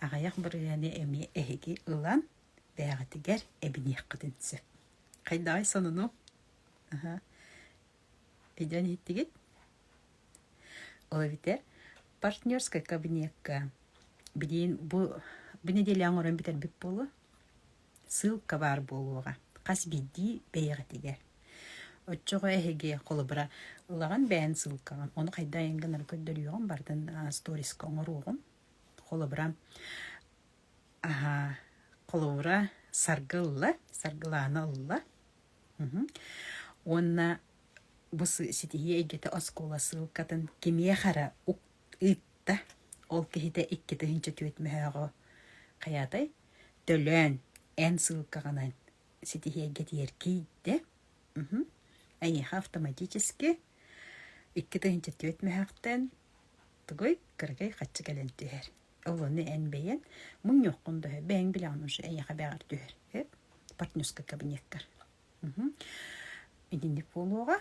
аҕыйах бырыһыаны эмиэ эһиги ылан бээҕитигэр эбиниэххитин сөп Хайдаҕый сонуну? Аха. Идэн иһиттигит? Ол эбитэ партнерскай кабинекка билигин бу бу нэдиэлэ оҥорон бүтэрбит буолуо. Ссылка баар буолуоҕа. Хас биирдии бэйэҕитигэр. Оччоҕо эһиги холобура ылаҕын бэйэҥ ссылкаҕын. Ону хайдаан гынары көрдөрүөҕүм барытын сторискка оҥоруоҕум. Холобура Аһаа, холобура саргы ылла, саргылаана ылла. Мгм. Уонна бу сы- ситиһии эйгэтэ оскуола ссылкатын кимиэх эрэ ук- ыытта. Ол киһитэ икки тыһыынча түөрт мөһөөҕө хайаатай? Төлөөн, эн ссылкаҕынан ситиһии эйгэтигэр киирдэ. Мгм. Эйиэхэ автоматически икки тыһыынча түөрт мөһөөхтөн тугуй, кыракый хаччы кэлэн түһэр. ылыны эн бэйэн муҥньуоххун да бэйэҥ билэҕин уже эйиэхэ бэҕэр түһэр партнерскай кабинеттар итинник буолуоҕа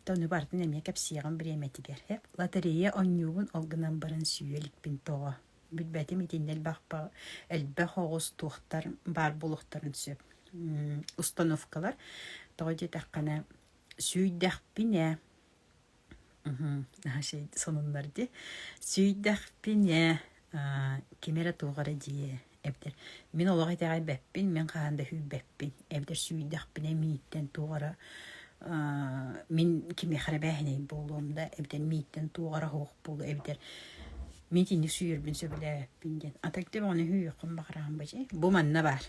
тону бартын эмиэ кэпсиэҕим бириэмэтигэр лотерея онньуубун ол гынан баран сүүйэ иликпин тоҕо билбэтим итиннэ элбэх элбэх оҕус туохтар баар буолуохтарын сөп установкалар тоҕо диэтэххинэ сүүйдэхпинэ сонуннар дии сүүйдэхпин ээ ким эрэ туох эрэ дии эбэтэр мин олох итэҕэйбэппин мин хаһан да сүүйбэппин эбэтэр сүүйдэхпинэ мииттэн туох эрэ мин кимиэхэ эрэ бээһинэй буолуом да эбэтэр мииттэн туох эрэ оһуох буолуо эбэтэр мин итинник сүүйэрбин сөбүлээбэппин диэн атыгы да оҕону сүүйүөххүн баҕараҕын бу дьи бу манна баар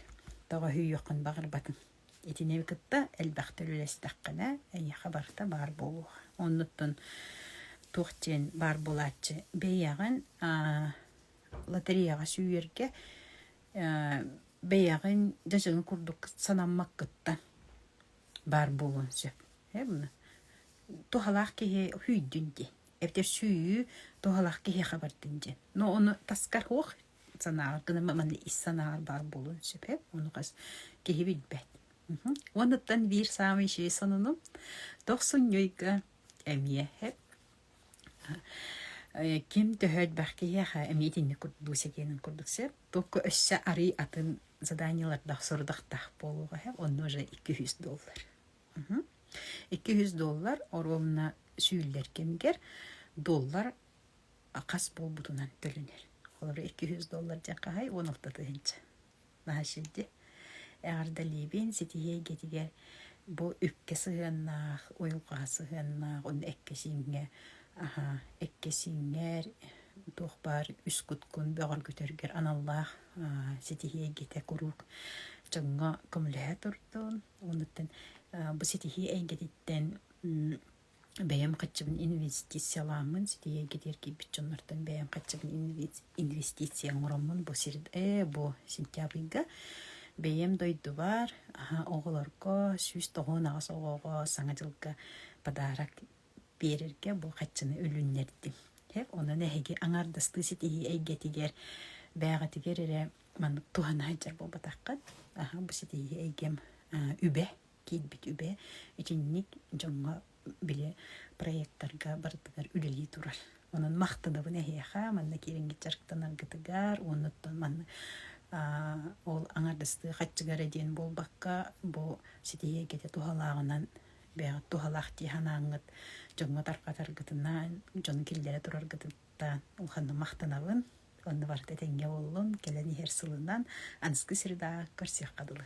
тоҕо сүүйүөххүн баҕарбатын Итини кытта элбэхтэр үлэстэххинэ, эйиэхэ барыта баар буолуо. Оннуттан туох диэн баар буолааччы бэйэҕин лотереяҕа сүүйэргэ бэйэҕин дьадьыгын курдук санаммаккыттан баар буолуон сөп. Туһалаах киһи үһүйдүн диэн, эбэтэр сүүйүү туһалаах киһиэхэ бардын диэн. Но ону таскар уох санааҕа гынан маны ис санааҕар баар буолуон сөп ону хас киһи билбэт уонуттан биир саамай үчүгэй сонунум тохсун ньуйга эмиэ хэп ким төһө элбэх киһиэхэ эмиэ итинник бу сэтиэнин курдук сөп только өссө арый атын заданиелардах сорудахтаах буолуоҕа хэп онно же икки жүз доллар икки жүз доллар оруомна сүүллэр кэмигэр доллар хас буолбутунан төлөнөр. Олору икки жүз доллар дьэ хаһай уон алта тыһынча. Наһашилди. Эҕэрдэ либин ситиһиэй гетигэр бу үккэ сыһыаннаах, уйулҕаһа сыһыаннаах, онно эккэсииҥҥэ аха эккэсииҥҥэр туох баар үс куткун бөҕөр көтөргөр аналлаах ситиһиэйгитэ куруук чоҥҥо көмөлөһө турдун. Оннуттан бу ситиһии эйгэтиттэн бэйэм хаччыбын инвестициялааммын ситиһиэгэ диэри киирбит дьоннортон бэйэм хаччыбын инвестиция оҥороммун бу сир ээ бу сентябрьга бэйэм дойдубар оҕолорго сүүс тоҕуон аҕыс оҕоҕо саҥа дьылга подарок биэрэргэ бу хаччыны үлүннэрдим онон эһиги аҥаардастыы ситиһии эйгэтигэр бээҕитигэр эрэ маннык туһана сылдьар буолбатаххыт бу ситиһии эйгэм үбэ киирбит үбэ итинник дьоҥҥо били проектарга барытыгар үлэлии турар. Онон махтанабын эһиэхэ манна киирингит дьарыктанаргытыгар уонна манна ол аҥардастыы хаччыгара диэн буолбакка бу ситиһиэгитэ туһалааҕынан бэйэҕит туһалаах дии санааҥҥыт дьоҥҥо тарҕатаргытынан дьон киллэрэ тураргытыттан улаханнык махтанабын Онно барыта тэҥҥэ буоллун, кэлэн иһэр сылынан аныгы средаҕа көрсүөххэ дылы